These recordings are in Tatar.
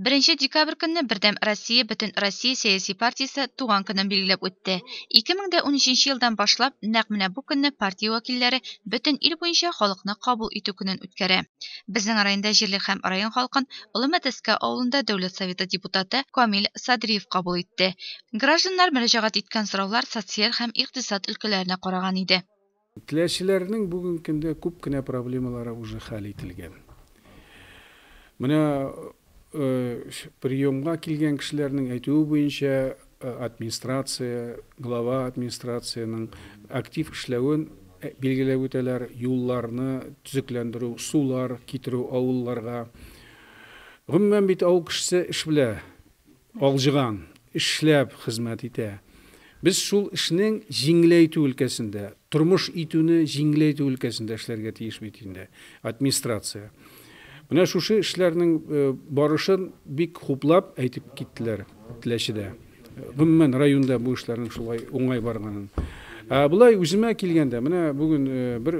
Беренче декабрь көнне Бердәм Россия бөтен Россия сәяси партиясе туган көнен билгеләп үтте. 2013 елдан башлап нәкъ менә бу көнне партия вәкилләре бөтен ил буенча халыкны кабул итү көнен үткәрә. Безнең районда җирлек һәм район халкын Олы Мәтәскә авылында Дәүләт Советы депутаты Камил Садриев кабул итте. Гражданнар мөрәҗәгать иткән сораулар социаль һәм икътисад өлкәләренә караган иде. Теләчеләрнең бүген көндә күп кенә проблемалары уже хәл ителгән. Менә приемга килгән кешеләрнең әйтүе буенча, администрация, глава администрациянең актив эшләвен билгеләп үтәләр, юлларны төзекләндерү, сулар китерү авылларга. Гомумән бит авыл кешесе эш белә. Алҗыган, эшләп хезмәт итә. Без шул эшнең җиңеләйтү өлкәсендә, тормыш итүне җиңеләйтү өлкәсендә эшләргә тиеш бит инде, администрация. Менә шушы эшләрнең барышын бик хуплап әйтеп киттеләр Теләчедә. Гомумән, районда бу эшләрнең шулай уңай барганын. Ә болай үземә килгәндә, менә бүген бер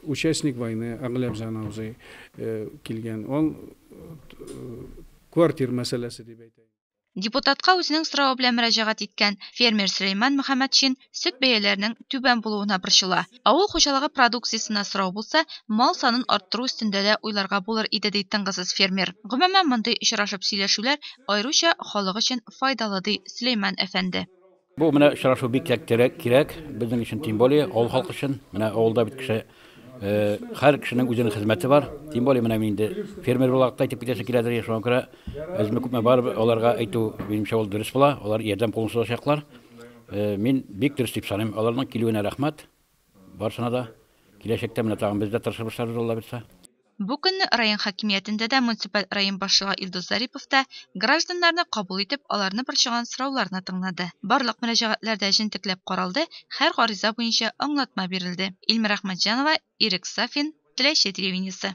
участник войны, Агыләбзан абзый килгән. Ул квартир мәсьәләсе дип әйтәйен. Депутатка үзенең соравы белән мөрәҗәгать иткән фермер Сөләйман Мөхәммәтшин сөт бәяләренең түбән булуына борчыла. Авыл хуҗалыгы продукциясенә сорау булса, мал санын арттыру өстендә дә уйларга булыр иде, ди тынгысыз фермер. Гомумән, мондый очрашып сөйләшүләр аеруча халык өчен файдалы, ди Сөләйман әфәнде. Бу менә очрашу бик кирәк, кирәк безнең өчен, тем более авыл халкы өчен. Менә авылда бит кеше, һәр кешенең үзенең хезмәте бар. Тем более менә мин инде фермер буларак та әйтеп китәсе киләдер инде, шуңа күрә әзме күпме барыбер аларга әйтү, минемчә, ул дөрес була. Алар ярдәм кулын сузачаклар. Мин бик дөрес дип саныйм. Аларның килүенә рәхмәт барысына да. Киләчәктә менә тагын без дә тырышырбыз, шәһәр үзаллабирса. Бу көнне район хакимиятендә дә, муниципаль район башлыгы Илдус Зарипов та гражданнарны кабул итеп, аларны борчыган сорауларны тыңлады. Барлык мөрәҗәгатьләр дә җентекләп каралды, һәр гариза буенча аңлатма бирелде. Илмира Әхмәтҗанова, Ирек Сафин, Теләче телевидениесе.